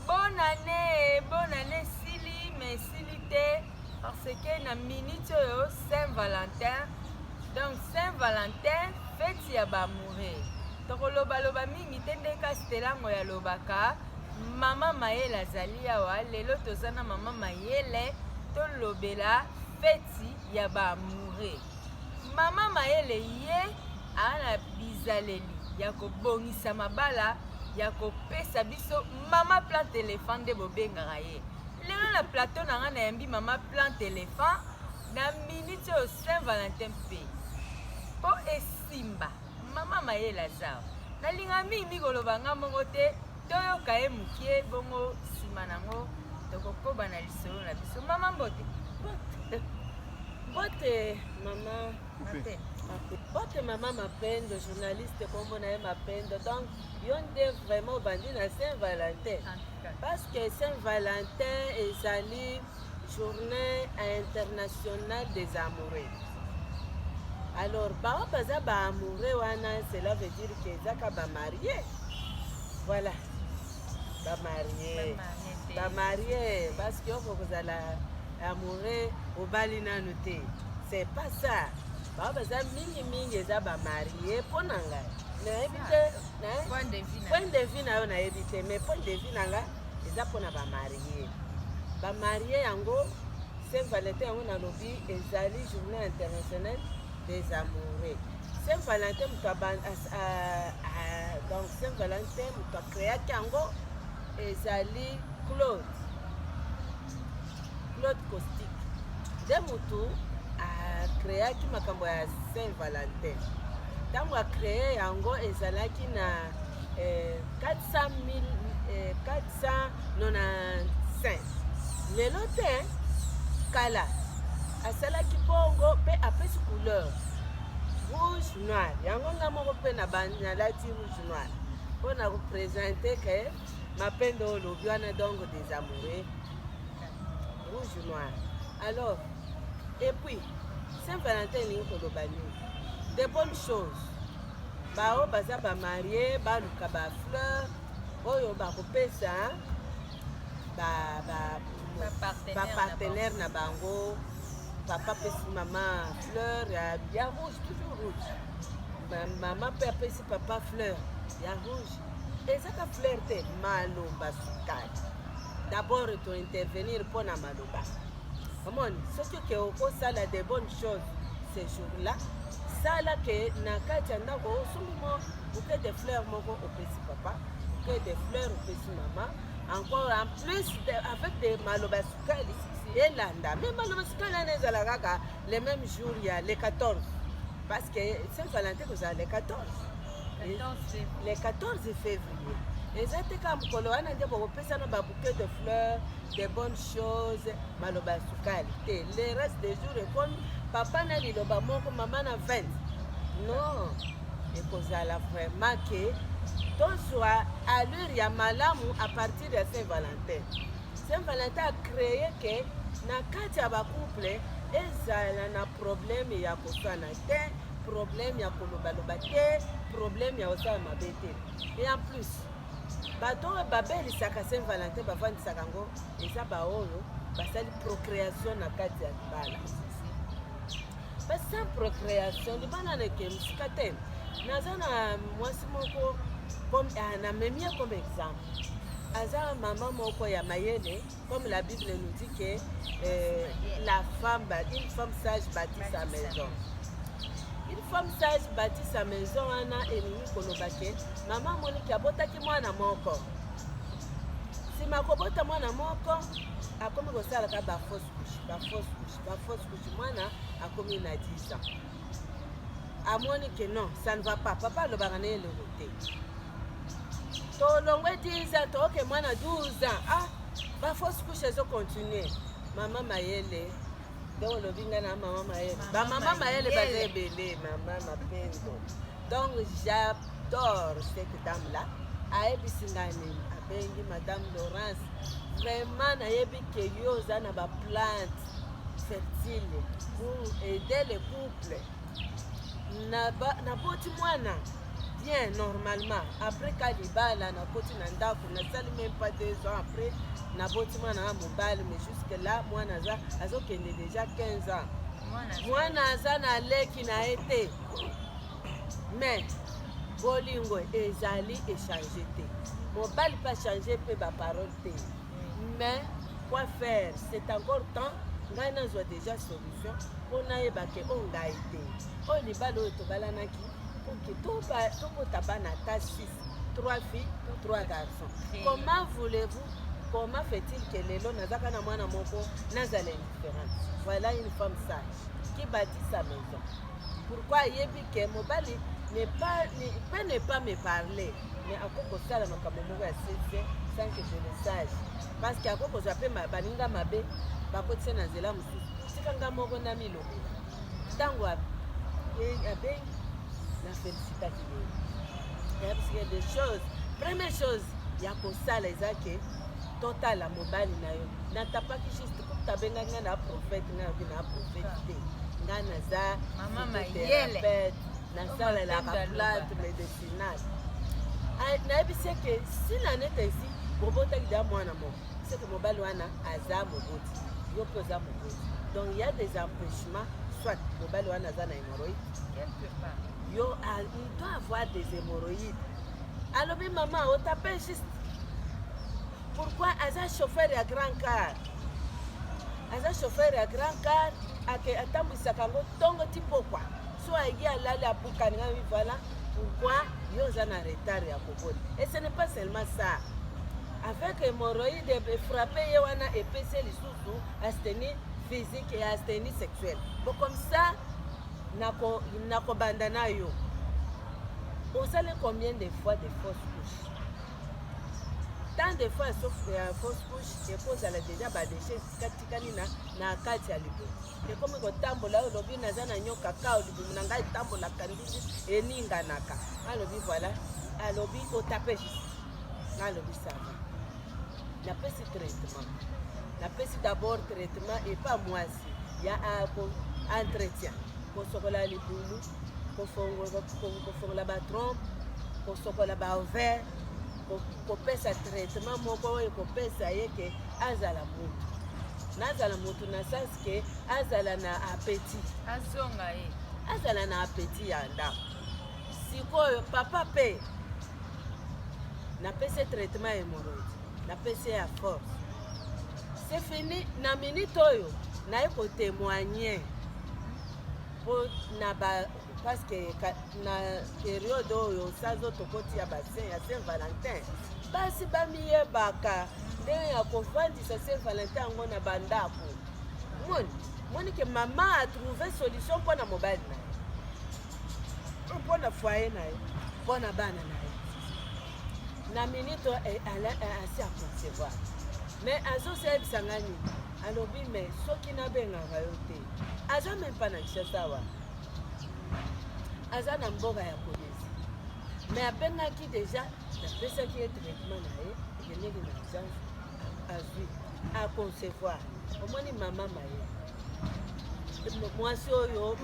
Bonne année, bonne année Sili, mais Sili te parce que na minute oyo Saint Valentin. Donc Saint Valentin, fête ya ba amoureux. Tokoloba loba mingi te nde kasi telango ya lobaka. Mama Mayele azali awa, lelo toza na Mama Mayele tolobela fête ya ba amoureux. Mama mayele ye aa na bizaleli ya kobongisa mabala ya kopesa biso mama plant elephant nde bobengaka ye lelo na plateau na ngai nayambi mama plant elephant na miniti oyo saint valentin mpe mpo esimba mama mayele aza nalinga mingi mikoloba ngai moko te Toyoka ye mokie bongo nsima nango tokokoba na lisolo na biso. Mama Mbote. Mbote mama Mbote. Mbote mama Mapendo, journaliste kombo na ye Mapendo. Donc yo nde vraiment obandi na Saint Valentin. Parce que Saint Valentin ezali journée internationale des amoureux alors baoyo baza baamoureux wana cela veut dire ke ezaka bamarie voilà bamarie bamarie parce que oko kozala amoureux obali nanu te c'est pas ça baoyo baza mingimingi eza bamarie mpo na ngai nayebi te point de vue na yo nayebi te mais point de vue na ngai eza pona ba marie ba marie yango saint valentin yango nalobi ezali journée internationale des amoureux saint valentin moto donc saint valentin moto akreaki yango ezali claude claude costique nde motu akreaki makambo ya saint valentin ntango akreye yango ezalaki na eh, 400 eh, 495 lelo te kala asalaki bongo mpe apesi couleur rouge noir yango nga moko mpe nalati rouge noir mpo na kopresente ke mapendo olobi wana donc des amoureux rouge noir alors epuis saint valentin elingi koloba nini de bonne chose Baoyo baza ba marie baluka ba fleur oyo bakopesa bapartenaire na bango papa apesi mama fleur ya rouge toujours rouge mama mpe apesi papa fleur ya rouge ezaka fleur te maloba sukali dabord tointervenir mpo na maloba omoni soki ke okosala de bonne chose ce jour là sala ke na kati ya ndako osombi mo bouquet de fleur moko opesi papa bouquet de fleur opesi mama encore en plus de, avec de maloba ya sukali elanda me maloba sukali wana ezala kaka le même jour ya le 14 parce que saint valentin kozala le 14 le 14 février eza te kaka mokolo wana nde bokopesana babouquet de fleur de bonne chose maloba ya sukali te le reste des jours ekomi papa na liloba moko mama na 20 non ekozala vraiment ke tozwa allure ya malamu à partir ya saint valentin saint valentin a créé ke na kati ya bacouple ezala na problème ya koswana te problème ya kolobaloba te problème ya kosala mabe te et en plus bato oyo babelisaka saint valentin bafandisaka yango eza baoyo basali procréation na kati ya libala basa procréation libala neke mosika te naza na mwasi moko ah, namemi ye comme exemple aza mama moko ya mayele Comme la Bible nous dit que euh, la femme, une femme sage bâtit sa maison. Une femme sage bâtit sa maison wana elingi koloba ke mama Monique abotaki mwana moko nsima akobota mwana moko akomi kosalaka bafausse couche bafausse couche bafausse couche mwana akomi na 10 ans amoni ke non ça ne va pas papa alobaka na eloko te tolongwe 10 ans tooke mwana 12 ans ah bafausse couche ezocontinue mama mayele donc olobi ngai na mama mayele bamama mayele baza ebele mama mapendo donc j'adore cette dame là ayebisi ngai nini abengi madame laurence vraiment nayebi ke yo oza na baplante fertile pour aider le couple naboti mwana bien normalement après ka libala nakoti na ndako nasali meme pas deux ans après naboti mwana na mobali mais jusque là mwana aza azokende déjà 15 ans mwana aza na leki na ye te mais bolingo ezali echange te mobali mpe achange mpe baparole te mais quoi faire c'est encore temps ngai nazwa déjà solution mpo nayeba ke o oh, ngai te oyo libala oyo tobalanaki oke tobota bana ata 6 3 filles 3 garçons comment voulez-vous comment fait-il que lelo nazaka na mwana moko nazala indifférente voilà une femme sage qui bâtit sa maison pourquoi ayebi ke mobali ne pas, ne, peut ne pas me parler mais akoki kosala makambo moko ya sese sans que je le sache parce que akoki kozwa mpe baninga mabe bakotisa na nzela mosusu tika nga moko na milobela ntango abengi na felicitaki ye yabisike de choses première chose ya kosala eza ke totala mobali na yo natapaki juste kuta abengaki ngai na prophète ngai nayoki na prophète te ngai naza thérapeute nasalelaka plate final nayebisi eke si na nete esi bobotaki deya mwana moko seke mobali wana aza moboti yo mpe oza moboti donc ya des empêchements soit mobali wana aza na hémorroïde quelque part yo ah, il doit avoir des hémorroïdes alobi mama otape juste pourquoi aza chauffeur ya grand car aza chauffeur ya grand car atambwisaka yango ntongo ti pokwa so aye alali abukani nga mi voilà pourquoi yo oza na retard ya kokota et ce n'est pas seulement ça avec hémorroïde efrappe ye wana epesi ye lisusu astenie physique et astenie sexuelle bon comme ça nakobanda na yo osali combien de fois de fausse couche tant de fois ya fausse couche ekozala deja badeshe katikani na kati ya liboso ekomi kotambola oyo lobi naza na nyoka kao libumu na ngai etambolaka ndingi eninganaka alobi voilà alobi otape juste nalobi sava napesi traitement napesi d'abord traitement epa mwasi ya entretien kosokola libulu kofongola batrompe kosokola baover kopesa traitement moko oyo ekopesa ye ke azala motu nazala motu na sens ke azala na appetit azonga ye azala na appetit ya ndako sikoyo papa pe napesi traitement ya hemorroïde napesi ya force c'est fini na minute oyo naye kotemoigne mpo na ba paske na periode oyo sazo tokoti ya basin ya saint valentin basi bamiyebaka ndenge ya kofandisa saint valentin yango na bandako moni moni ke mama atrouve solution mpo na mobali na ye to mpo na foye na ye mpo na bana na ye na minute eh, eh, asi aconcevoir mais azosalisa ngai nini alobi mais soki nabengaka yo te aza meme mpa na kinshasa awa aza na mboka ya kolezi me abengaki deja napesaki ye traitement na ye ekendeki na urgence azwi aconcevoir omoni mama maye mwasi oyo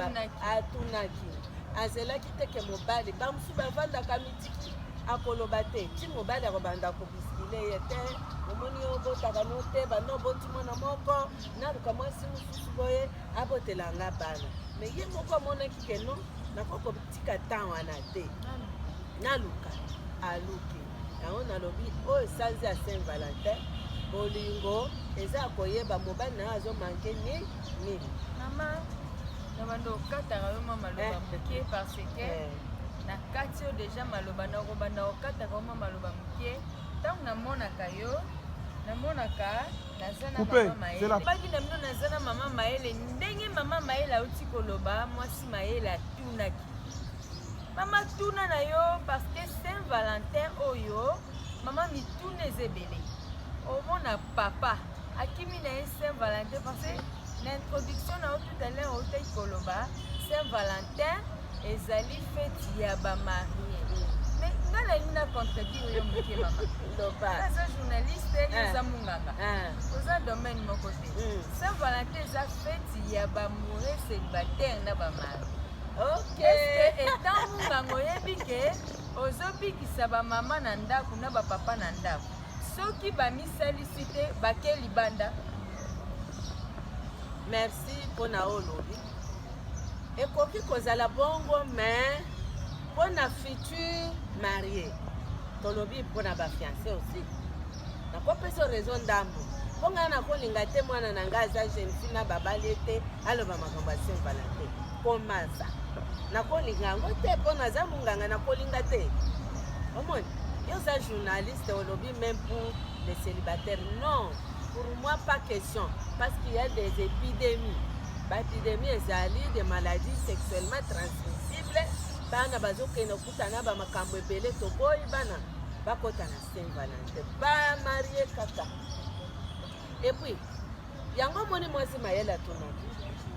atunaki azelaki teke mobali bamosusu bavandaka mitiki akoloba te ti mobali akobanda kobiskile ye te omoni obotaka no te banda oboti mwana moko naluka mwasi mosusu boye abotela nga bana me ye moko amonaki ke non nakoki kotika temps wana te naluka aluki yango nalobi oyo sanzi ya saint valentin bolingo eza ya koyeba mobali na yo azomanke ni nini mama na bando okataka yo mama loba eh. moke parce que eh. na kati yo deja maloba na okobanda okataka yo mama loba moke ntango namonaka yo namonaka Coupe, c'est la. Baki na mino naza na mama Maëlle ndenge mama Maëlle auti koloba mwasi Maëlle atunaki mama tuna na yo parce que Saint Valentin oyo mama mituna eza ebele omona papa akimi na ye Saint Valentin parce que na introduction na yo tout à l'heure otaki koloba Saint Valentin ezali feti ya bamarie me nga nalingi na contredire yo moke mama aza journaliste eza ah. monganga ah. oza domaine moko te hmm. saint valentin eza feti ya bamoure célibataire na bamari etant monganga oyebi ke ozobikisa bamama na ndako na bapapa na ndako soki bamisalisi te bake libanda merci mpo na oyo olobi Ekoki kozala bongo mais mpo na futur marie tolobi mpo na bafiance aussi nakopesa rezo ndambo mpo ngai nakolinga te mwana na ngai aza jeune fille na babali ete aloba makambo ya saint valentin komansa nakolinga yango te mpo naza monganga nakolinga te omoni yo oza journaliste olobi meme pour le célibataire non Pour moi pas question parce qu'il y a des épidémies. Ba épidémies ezali des maladies sexuellement transmissibles. Bana bazokenda kutana ba makambo ebele toboyi bana bakota na Saint Valentin. Ba marie kaka. Et puis yango moni mwasi mayele atunaki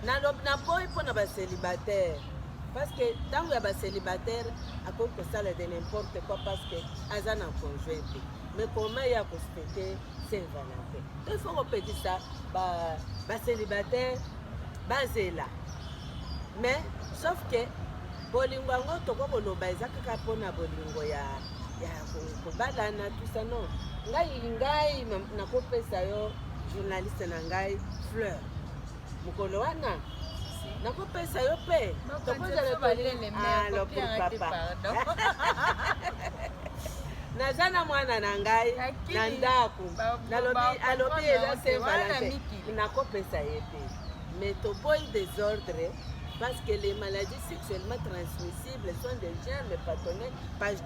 nalobi naboyi mpo na bacelibataire parce que ntango ya bacelibataire akoki kosala de n'importe quoi parce que aza na conjoint te mais koma ye akospeter Saint Valentin. Il faut kopekisa ba ba célibataire bazela. Mais sauf que bolingo yango toko koloba eza kaka mpo na bolingo ya ya kobalana tout ça non. Ngai ngai nakopesa yo journaliste na ngai fleur. mokolo wana nakopesa yo mpe tokozala balele papa naza na mwana na ngai na ndako nalobi alobi eza se valante nakopesa ye te mais toboyi desordre parce que les maladies sexuellement transmissibles sont des germes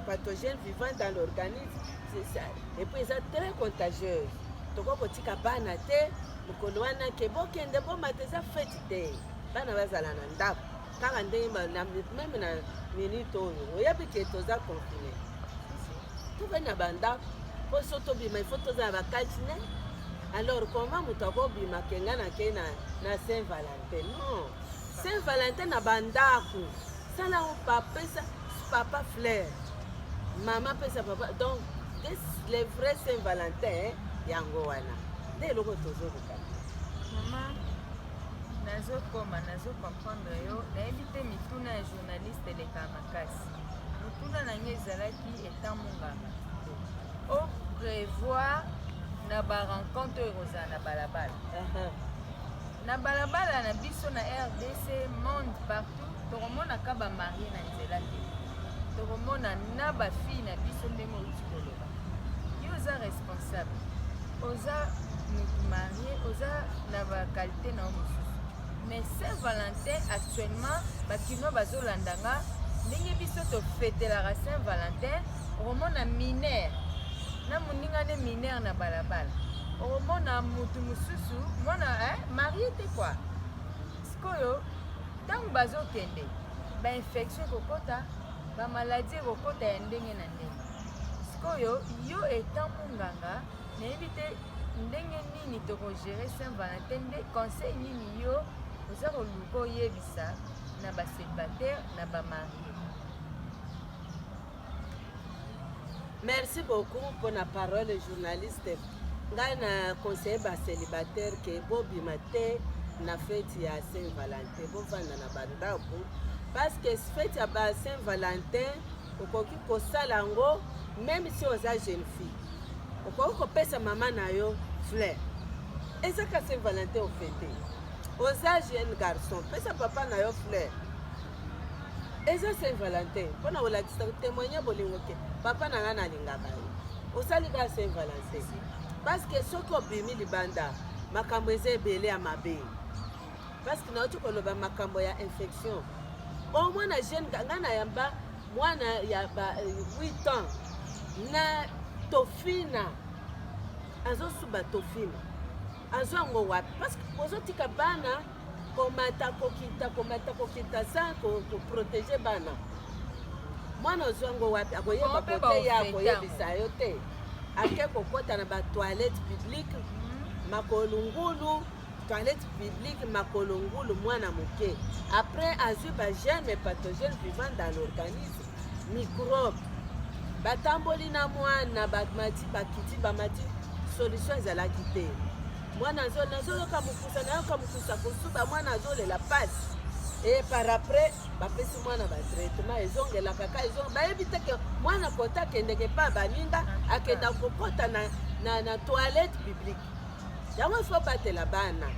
pathogènes vivant dans l'organisme et puis eza très contagieuse tokoki kotika bana te mokolo wana ke bokende bomata eza fete te bana bazala na ndako kaka ndenge meme na minute oyo oyebi ke toza confine tokei na bandako mpo so tobima ifo toza na bakatine alors koma moto akobima kenga na kei na saint valentin non saint valentin na bandako sala o papesa papa fleur mama pesa papa donc les vrais saint valentin yango wana nde eloko tozoluka mama nazokoma nazokomprendre yo nayebi te mituna ya journaliste eleka makasi motuna na ngai ezalaki etant monganga o prévoir na barencontre oyo ekozala na balabala uh-huh. na balabala na biso na rdc monde partout tokomonaka bamarie na nzela te tokomona na bafille na biso ndenge outi koloba yo oza responsable oza mutu marie oza na ba qualité na yo mosusu mais saint valentin actuellement bakinois bazolanda nga ndenge biso tofetelaka saint valentin okomona minere na moninga nde minere na balabala okomona mutu mosusu mwana eh, marie te kua sikoyo ntango bazokende bainfection ekokota bamaladi ekokota ya ndenge na sikoyo yo etant monganga nayebi te ndenge nini tokogere saint valentin nde conseil nini yo oza koluka oyebisa na baselibataire na bamarie merci beaucoup mpo na parole journaliste ngai na conseille baselibataire ke bobima te na feti ya saint valentin bovanda na bandako parce que feti ya ba saint valentin okoki kosala yango meme si oza jeune fille okoki kopesa mama na yo fleur eza ka saint valentin ofete oza jeune garçon pesa papa na yo fleur eza saint valentin mpo na kolakisa témoigne bolingo ke papa na ngai nalingaka yo osali ka saint valentin parce que soki obimi libanda makambo eza ebele ya mabe parce que nauti koloba makambo ya infection o mwana jeune ngai nayamba mwana ya ba 8 euh, ans na tofina azosuba tofina azwa yango wapi parce que bozotika bana komata kokita komata kokita sa koprotege bana mwana ozwa yango wapi akoyeba koteya akoyebisa yo te ake kokɔta na batoilette publique hmm. makolungulu toilette publique makolo ngulu mwana moke après azwi ba germe pathogène vivant dans l'organisme microbe batamboli na mwana bamati bakiti bamati solution ezalaki te mwana nazoyoka mokusa nayoka mokusa kosuba mwana azolela pasi e par après bapesi mwana batraitement ezongelaka ka ezonge bayebi te ke mwana kota akendeke mpa baninga akenda kokota na, na, na toilette publique yango ifo batela bana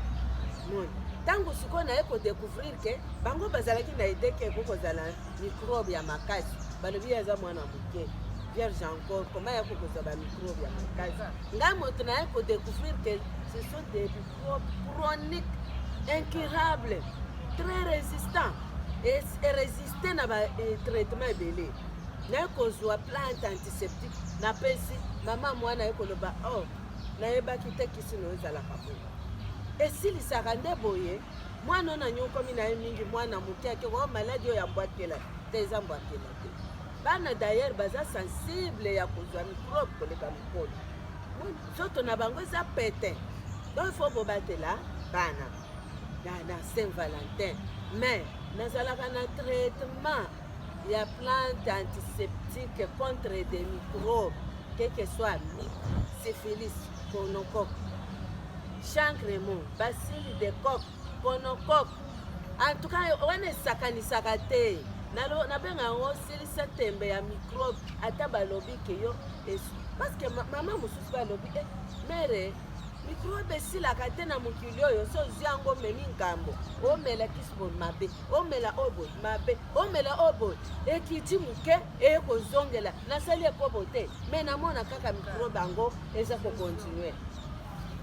moni ntango sikoyo naye kodecouvrir ke bango bazalaki na ide ke eko kozala microbe ya makasi balobi ye aza mwana moke vierge encore koma ya kokozwa bamicrobe ya makasi ngai moto naye kodecouvrir ke ce sont des microbe chronique incurable très résistant erésiste na batraitement eh, ebele naye kozwa plante antiseptique napesi mama mwana ye koloba oh Nayebaki te kisi no ezalaka boye. Esilisaka nde boye. Mwana na nyokomi na ye mingi mwana moke ake oh, maladi oyo ya mbwakela te eza mbwakela te. Bana d'ailleurs baza sensible ya kozwa mikrobe koleka mokolo. Nzoto na bango eza pete. Donc il faut bobatela bana na, na Saint Valentin mais nazalaka na traitement ya plante antiseptique contre des microbes quel que soit syphilis gonocoque chancre mo basili de coque gonocoque en tout cas wana esakanisaka te nabenga yango silisa tembe ya microbe ata balobi ke yo parce que mama mosusu balobi e eh, mere mikrobe esilaka te na mokili oyo so ozwi yango omemi ngambo omelaki spo mabe omela obot mabe omela obot ekiti moke eye kozongela nasali ekobo te me namona kaka mikrobe yango eza kokontinue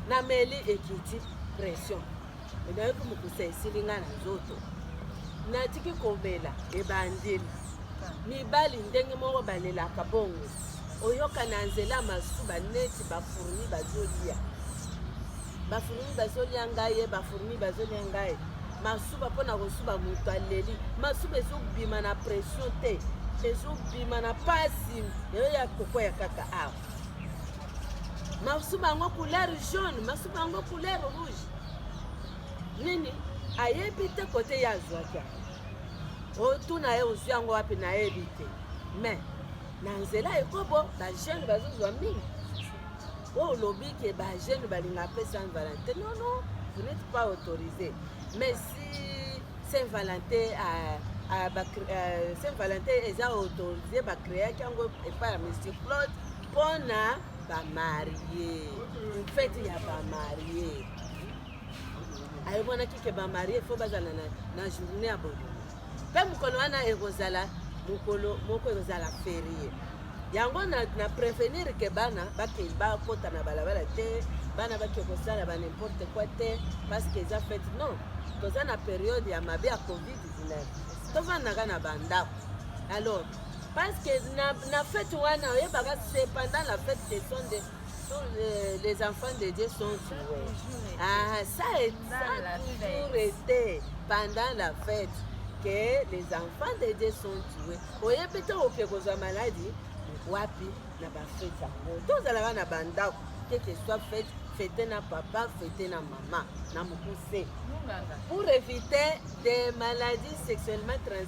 nameli ekiti pression nayoki mokusa esili ngai na nzoto natiki komela ebandeli mibali ndenge moko balelaka bongo oyoka na nzela masuba neti bafurni bazolia ba fourmi bazolia ngai ye ba fourmi bazolia ngai masuba mpo na kosuba moto aleli masuba ezobima na pression te ezobima na pasi eyo ya kokwea kaka awa masuba yango couleur jaune masuba yango couleur rouge nini ayebi te kote ye azwaki yango otuna ye ozwi yango wapi nayebi te mais na nzela ekobo bajeune bazozwa mingi oyo olobi ke ba jeune balinga mpe saint valentin non non vous n'êtes pas autorisé mais si saint valentin euh, euh, ba, euh, saint valentin eza autorisé bacreaki yango epai ya monsieur claude mpona bamarie fete ya bamarie ayemonaki ke bamarie fo bazala na, na journée ya bolingo Mpe mokolo wana ekozala mokolo moko ekozala ferie yango na, na prevenir ke bana bake bakota na balabala te bana bake kosala ba n'importe quoi te parce que eza fete non toza na periode ya mabe ya covid-19 tofandaka na bandako alors parce que na, na fete wana oyebaka c'est pendant la fete ce sont des les, les enfants de Dieu sont joués. Ah, ça, est, ça a toujours été pendant la fête que les enfants de Dieu sont joués. oyebi te oke kozwa maladi wapi na bafete yango tozalaka na bandako keke soit fete fete na papa fete na mama na mokuse pour éviter des maladies sexuellement transmises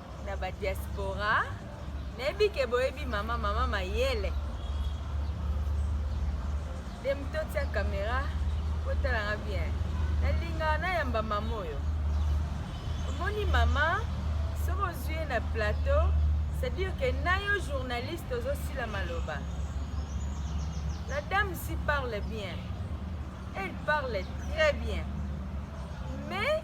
na ba diaspora nayebi ke boyebi mama mama mayele de moto otia kamera otalanga bien nalinga nayamba mama oyo omoni mama soki ozwi ye na plateau c'est-à-dire ke na yo journaliste ozosila maloba la dame si parle bien Elle parle très bien. Mais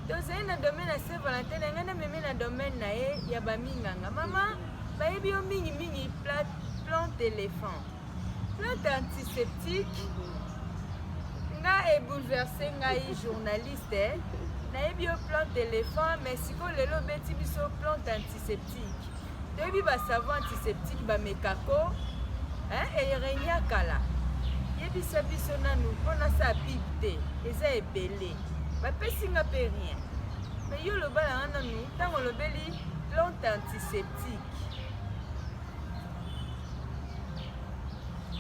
tozali na domaine ya Saint Valentin na ngai namemi na domaine na ye ya baminganga. Mama bayebi yo mingi mingi plante éléphant. Plante antiseptique nga ebouleverse ngai journaliste eh. nayebi yo plante éléphant mais sikoyo lelo obeti biso plante antiseptique Toyebi ba savants antiseptiques ba mekako hein et renia kala. Yebisa biso nanu pona sa pib te eza ebele. Ba pesi nga pe rien. Mais yo loba na nanu tango lobeli plante antiseptique.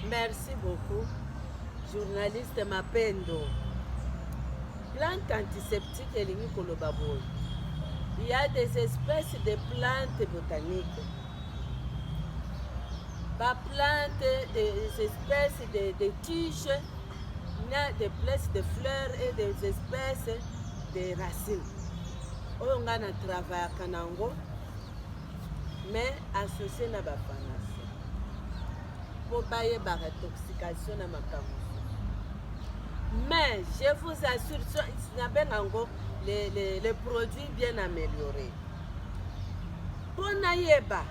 Merci beaucoup, journaliste Mapendo. Plante antiseptique elingi koloba boye, il y a des espèces de plantes botaniques ba plantes, des espèces de, de tiges, des places de fleurs et des espèces de racines. oyo ngai na travaillaka na yango mais associe na ba pharmacien mpo bayeba retoxication na makambo mais je vous assure nabenga yango les, les, les produits bien améliorés mpo nayeba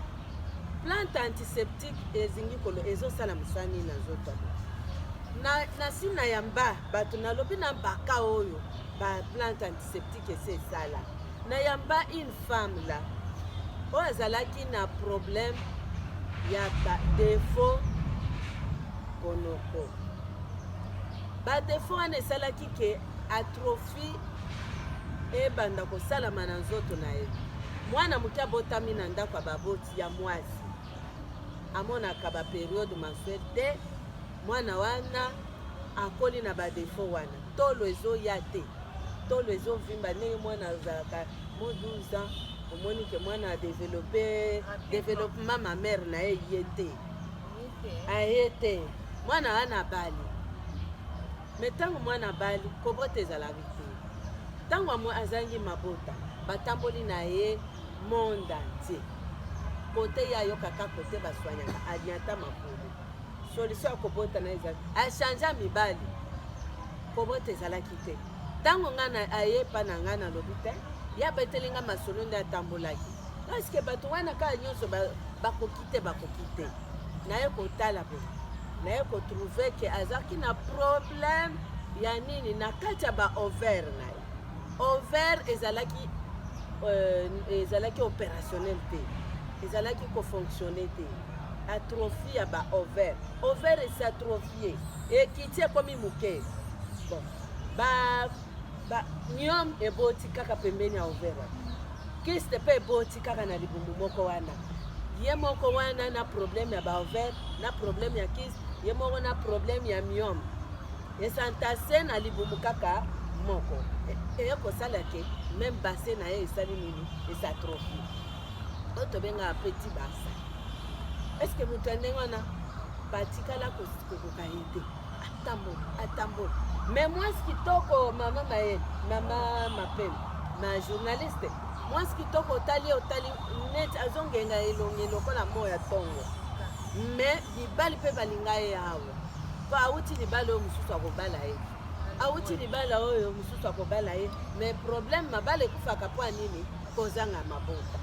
plante antiseptique ezingi kolo ezosala mosala nini na nzoto na, na sina ya mba bato nalobi na baka oyo ba plante antiseptique esi esala na yamba une femme là oyo azalaki na problème ya ba défaut konoko ba défaut wana esalaki ke atrophie ebanda kosalama na nzoto na ye mwana moke abotami na ndako ya baboti ya mwasi amonaka baperiode mensuel te mwana wana akoli na badefo wana tolo ezoya te tolo ezovimba ndenge mwana azalaka mo 12 ans omoni ke mwana adevelope developement ma mare na ye ye te aye te mwana wana abali me ntango mwana abali kobota ezalaki te ntango amwe azangi mabota batamboli na ye monde entier kote ye ayokaka kote baswanyaka aliata makolo solution ya kobota na ezali achange mibali kobota ezalaki te ntango ngai aye epa na ngai nalobi te ye abeteli ngai masolo nde atambolaki parceke bato wana kaka nyonso bakoki te bakoki te naye kotala boye naye kotrouve ke azalaki na problème ya nini na kati ya baover na ye over ezalaki euh, ezalaki opérationnel te ezalaki kofonctionne te atrophie ya ba ovaire ovaire esi atrophie ekiti ekomi moke bon ba ba niom eboti kaka pembeni ya ovaire kiste mpe eboti kaka na libumu moko wana ye moko wana na problème ya ba ovaire na problème ya kiste ye moko na problème ya miome esantase na libumu kaka moko eye kosala ke meme base na ye esali nini esatrophie oyo tobengaka petit barsa eske moto ya ndenge wana batikala kokoka ye te atambola atambola me mwasi kitoko mama maye mama mapele ma journaliste mwasi kitoko otali otali neti azongenga elongi lokola mo ya ntongo me mibali mpe balinga ye awa mpo awuti libala oyo mosusu akobala ye awuti libala oyo mosusu akobala ye me problème mabala ekufaka mpo ya nini kozanga maboko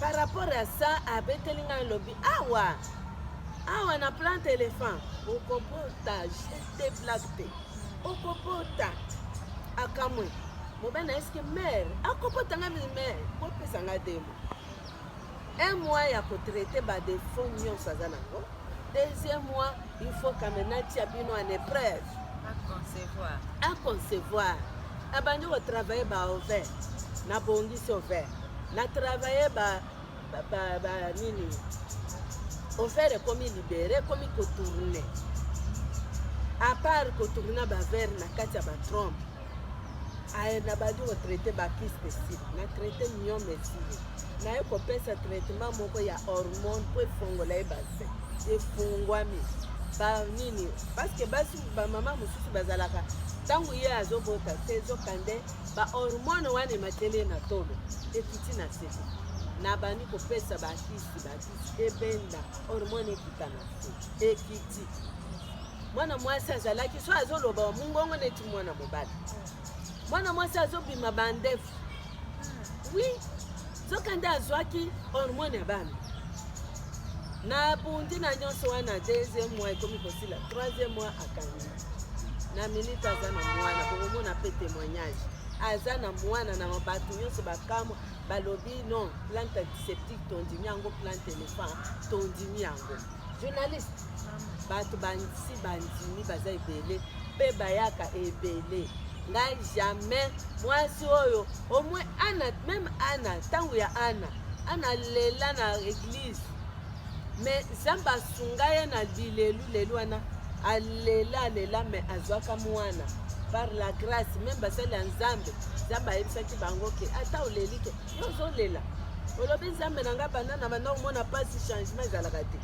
par rapport ya sa abeteli ngai lobi awa awa na plante elephant okobota jete blague te okobota akamwe mobali na eske mare akobota ngai mare kopesa ngai demo Un mois ya ko traiter ba defaut nyonso aza nango. Deuxième mois, il faut kamena tia bino en épreuve. A concevoir. A concevoir. Abandi ko travailler ba ovaire. Na bongisi ovaire. Na travailler ba ba, ba, ba nini ovaire ekomi libere ekomi kotourne apart kotourna bavere na kati ya batrompe aye nabandi kotraite bakiste esili na traite miome esili naye kopesa traitement moko ya hormone mpo efongola ye base efungwami banini parceke basi bamama mosusu bazalaka ntango ye azobota te ezoka nde bahormone wana emateli ye na tolo ekiti na sete nabandi kopesa bakisi bakisi ebenda hormone ekita na se ekiti mwana mwasi azalaki so azoloba mongongo neti mwana mobali mwana mwasi azobima bandefu wi soki nde azwaki hormone ya bana na bundi na nyonso wana deuxième mois ekomi kosila troisième mois akangi na minute aza na mwana bokomona mpe témoignage aza na mwana na bato nyonso bakamwa balobi non plante antiseptique tondimi yango plante elephant tondimi yango journaliste bato bansi bandimi baza ebele mpe bayaka ebele ngai jamais mwasi oyo omwe ana meme ana ntango ya ana ana lela na eglise me nzambe asunga ye na lilelu lelu wana alela alela me azwaka mwana par la grâce meme basali ya nzambe nzambe ayebisaki bango ke ata oleli ke yo ozolela olobi nzambe na ngai banda na banda omona mpasi changement ezalaka te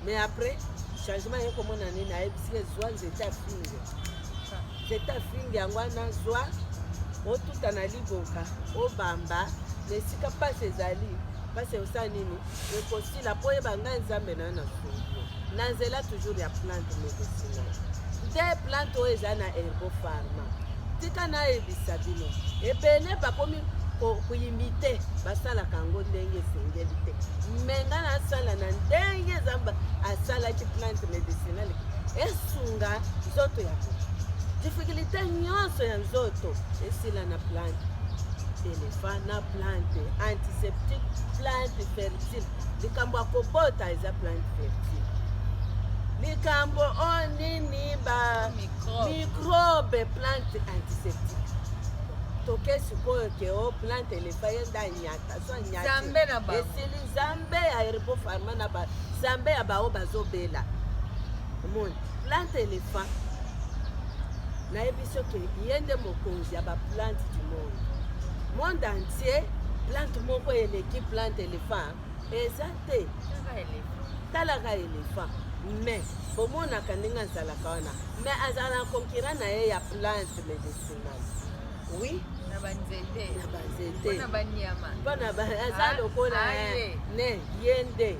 mais après changement ye komona nini ayebisi ye zwa nzete afinge nzete afinge yango wana zwa otuta na liboka obamba na esika mpasi ezali mpasi osala nini ekosila mpo oyeba ngai nzambe na yo na solo na nzela toujours ya plante medicinal nde plante oyo eza na herbo pharma tika nayebisa bino ebele bakomi koyimite basalaka yango ndenge esengeli te me nga nasala na ndenge zamba asalaki plante medicinal esunga nzoto ya moto difikulté nyonso ya nzoto esila na plante elefa na plante antiseptique plante fertile likambo ya kobota eza plante fertile likambo o oh, nini ba microbe plante antiseptique toke sikoyo ke o oh, plante elefa ye nda nyata so nyata esili zambe ya herbo farma na zambe ya baoyo bazobela omoni plante elefa nayebi soki ye nde mokonzi ya ba plante du monde monde entier plante moko eleki plante elephant eza te talaka elephant mais bomonaka ndenge azalaka wana mais azala na concurrent na ye ya plante medicinal oui na banzete na banzete na banyama mpona aza ah, lokola ah, eh, ne ye nde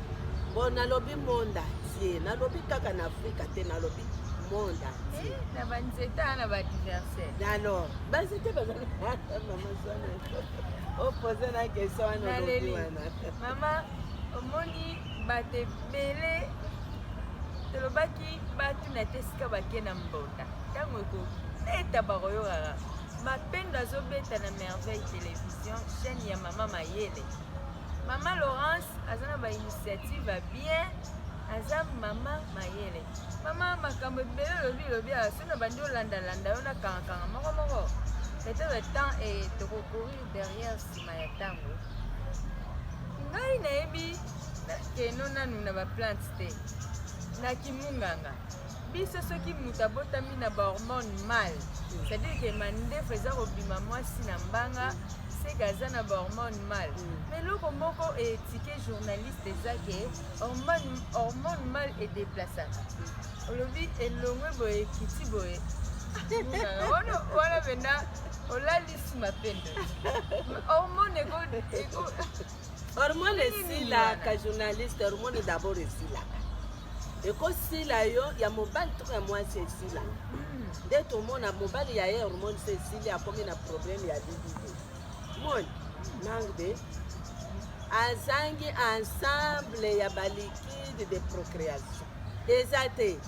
bo nalobi monde entier nalobi kaka na afrika te nalobi monde entier eh, na banzete na ba alors bazete bazali mama zwana opoze na question wana olobi wana mama omoni bato ebele tolobaki batuna te esika bake na mbonda ntango ekobeta bakoyokaka mapendo azobeta na merveille télévision chaîne ya mama mayele mama laurence aza na bainitiative ya bien aza mama mayele mama makambo ebele lobi lobi na bandi olanda landa yo na kanga kanga moko moko peut-être temps et toko courir derrière sima ya tango ngai nayebi keno nanu na ba plante te na kimunganga biso soki moto abotami na bahormone mal c'est-à-dire ke mandefu eza kobima mwasi na mbanga seke aza na bahormone mal ma eloko moko etike journaliste eza ke hormone mal edeplasaka olobi elongwe boye ekiti boye wana wana mpenza olalisi mapendo hormone eko eko hormone esilaka journaliste hormone d'abord esilaka ekosila yo ya mobali toko ya mwasi esila hmm. nde tomona mobali ya ye hormone se esili akomi na problème ya libido moni manque de azangi ensemble ya balikide de procréation eza te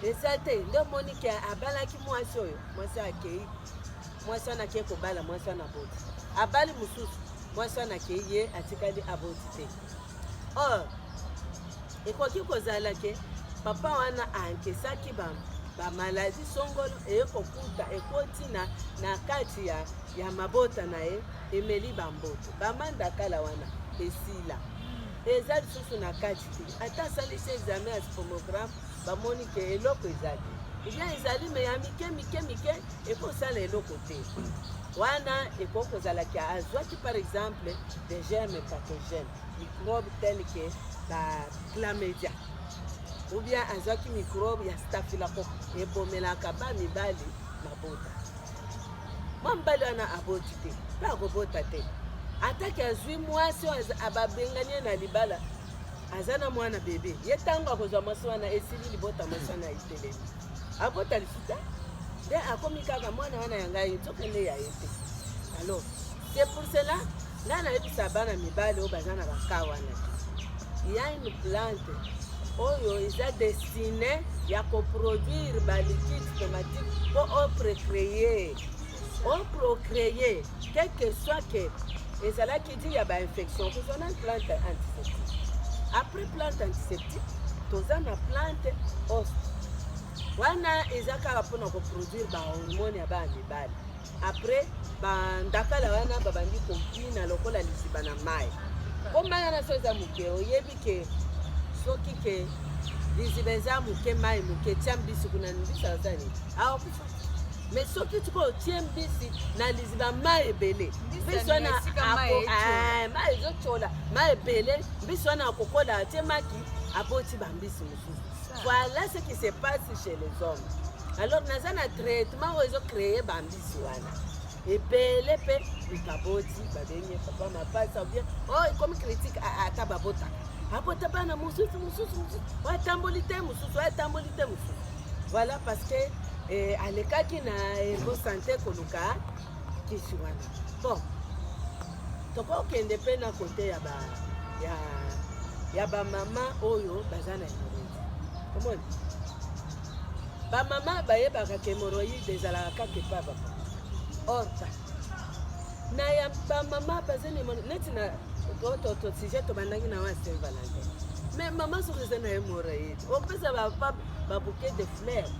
eza te nde omoni ke abalaki mwasi oyo mwasi akei mwasi wana akei kobala mwasi wana aboti abali mosusu mwasi wana akei ye atikali aboti te or ekoki kozala ke papa wana ankesaki bamaladi songolo eye kokuta ekoti na, na kati ya, ya mabota na ye emeli bamboto bamandakala wana esila eza lisusu na kati te ata asalisi examen ya spomogramme bamoni ke eloko ezali lia ezali me ya mike mike mike ekosala eloko te wana ekoki kozala ke azwaki par exemple des germes pathogène microbe tel ke ba clamedia ou bien azwaki microbe ya staphylocoque ebomelaka ba mibali mabota mwa mobali wana aboti te mpe akobota te atake azwi mwasi oyo ababengani ye na libala aza na mwana bebe ye ntango akozwa mwasi wana esili libota mwasi wana etelemi abota lisusu te nde akomi kaka mwana wana ya ngai nzoka nde ya ye te alors C'est pour cela, ngai nayebisa bana mibali oyo baza na bakaa wana il y a une plante oyo eza destine ya koproduire baliquide somatique mpo oprecreye oprocreye quelque soit que ezalaki di ya bainfection kozona plante antiseptique après plante antiseptique toza na plante ost wana eza kaka mpona koproduire bahormone ya bana mibali Après ba ndakala wana babandi kobina lokola liziba na mai mpo mai wana so eza moke oyebi ke soki ke liziba eza moke mai moke tia mbisi kuna mbisi aza nini aokufa me soki sikoyo otie mbisi na liziba mai ebele mbisi wana mai eh, ezotyola mai ebele mbisi wana akokola atie maki aboti bambisi mosusu Voilà ce qui se passe chez les hommes. Alors naza na traitement oyo ezo créer bambisi wana ebele mpe baboti babengi papa mapasa bien oyo oh, ekomi critique ah, ah, ata babotaka abota bana mosusu mosusu mosusu oyo atamboli te mosusu oyo atamboli te mosusu voilà parce que eh, alekaki na ergo sante koluka kisi wana bon tokokende mpe na kote ya ba ya ya bamama oyo baza na hemoroïde omoni bamama bayebaka ke hemoroïde ezalaka kaka epa baba orta na ya bamama baza na hemoroïde neti na to sujet tobandaki na wana saint valentin mais mama soki eza na hemoroïde opesa bapapa babuke de fleurs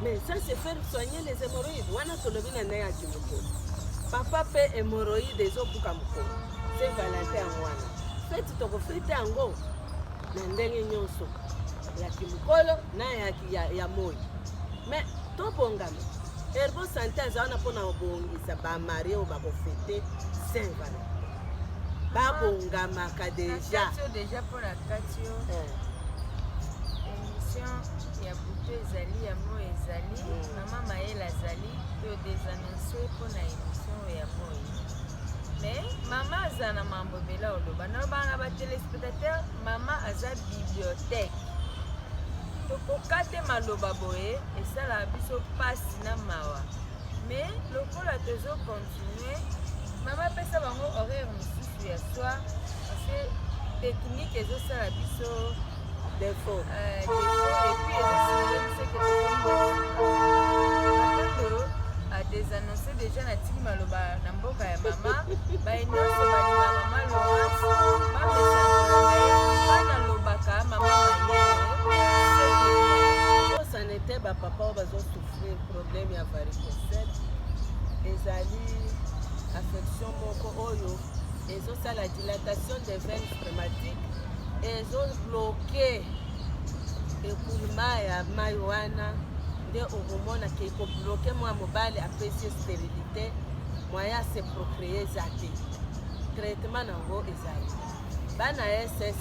Mais ça c'est faire soigner les hémorroïdes. Wana tolobi na naye ati mokolo. Papa pe hémorroïde ezobuka mokolo. Se Valentin yango wana. Feti tokofete yango na ndenge nyonso ya kimokolo na ya, ya, ya moi. Mais tobongama. Herbo Sante aza wana mpo na kobongisa bamari oyo bakofete Saint Valentin. Babongamaka deja. Nakati yo deja mpo nakati yo. Eh. Emission ya butu ezali ya moi ezali mama mayele azali to desanonce mpo na emission ya moi mais mama aza na mambo ebele oloba nalobaka na batelespectateur mama aza bibliothèque tokoka te maloba boye esalaka biso mpasi na mawa mais lokola tozo continue mama apesa bango horaire mosusu ya soi parce que technique ezosala biso defaut euh, epuis ezosala biso keondo adesannonce déjà natiki maloba na mboka ya mama baye nyonso balinga mama lorance bamesana lobaka mama mayele osana ete bapapa oyo bazosouffrir problème ya varicocele ezali affection Moko oyo ezosala dilatation des veines rhumatiques ezobloke ekulma ya mai wana nde okomona ke ekobloke mwa mobali apesi sterilité moyen ase procree eza te traitement nango ezali bana ss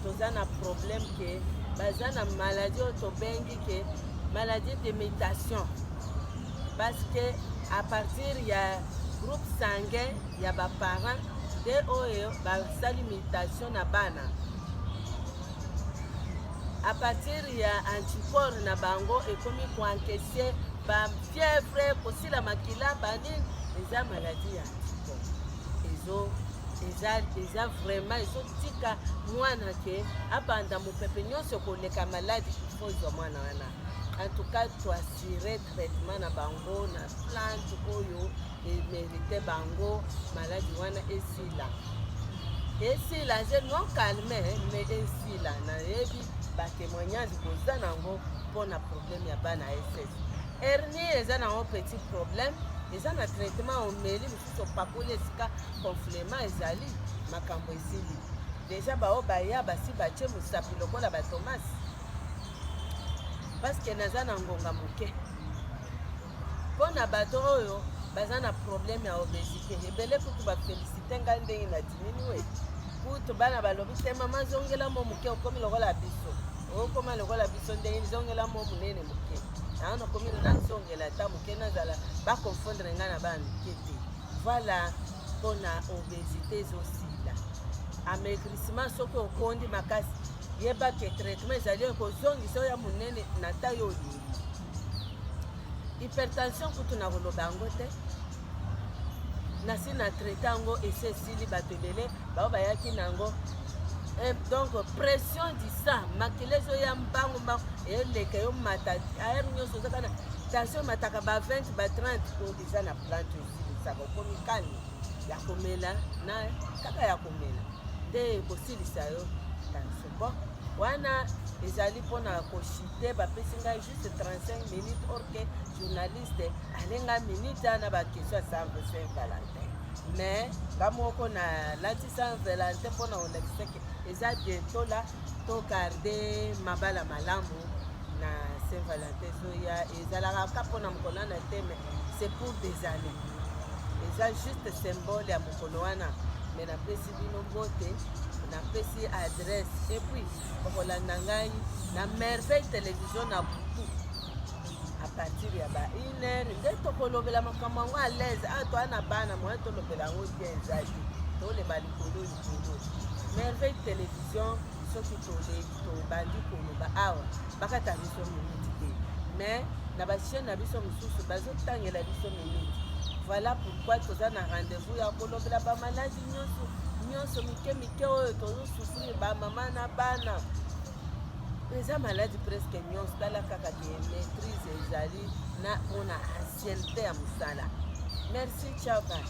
toza na problème ke baza na maladie oyo tobengi ke maladie de mutation parce que à partir ya groupe sanguin ya ba parents nde oyo basali mutation na bana à partir ya anticorps na bango ekomi koankese ba fièvre kosila makila banini eza maladie ya anticorps ezo eza eza vraiment ezotika mwana ke abanda mopepe nyonso koleka maladi ifo ezwa mwana wana en tout cas dire traitement na bango na plante oyo emerite bango maladi wana esila esila je non calme me esila nayebi batémoignage boza nango mpo na problème ya bana ss hernie eza nango petit problème eza na traitement omeli mosusu opakoli esika conflema ezali makambo esili deja baoyo baya basi batye mosapi lokola batomasi Paske naza na ngonga moke mpo na bato oyo baza na problème ya obesité ebele kutu bafelisite ngai ndenge na dimini we kutu bana balobi te mama zongela mo moke okomi lokola biso okoma lokola biso ndenge zongela mo monene moke yango nakomi nazongela ata moke nazala bakonfondre ngai na bana mike te voilà mpo na obesité ezosila amaigrissement soki okondi makasi Yeba ke traitement ezali ya kozongisa oyo ya monene na ta yo olingi. Hypertension kutu na koloba yango te nasi na traite yango esi esili bato ebele bao bayaki na yango eh, donc pression du sang makila ezoya mbangu mbangu eleka yo mata aere nyonso ozaka na tension mataka ba 20 ba 30 oyo eza na plante osilisaka okomi kani ya komela na kaka ya komela te ekosilisa yo tension bon wana ezali mpona koshite bapesi ngai juste 35 minutes orke journaliste alenga minute ana bakestion ya sanve saint valentin mais nga moko na lati saint valentin mpona olakisaki eza bientôt la togarde mabala malamu na saint valentin ezoya ezalaka kaka mpo na mokolo wana te mais c'est pour des années eza juste symbole ya mokolo wana me napesi bino bote napesi adresse epuis okolanda ngai na merveille televizio na butu a partir ya ba une heure nde tokolobela makambo yango à l'aise awa ah, toa na bana moye tolobela yango bien ezali toleba likolo likolo merveille télévision soki toleki tobandi koloba awa bakata biso minute te mais na bachaine na biso mosusu bazotangela biso minute voilà pourquoi toza na rendez-vous ya kolobela bamaladi nyonso nyonso mike mike oyo tozosufrir bamama na bana eza maladi presque nyonso tala kaka ke maîtrise ezali na mpona ancienneté ya mosala merci ciao bana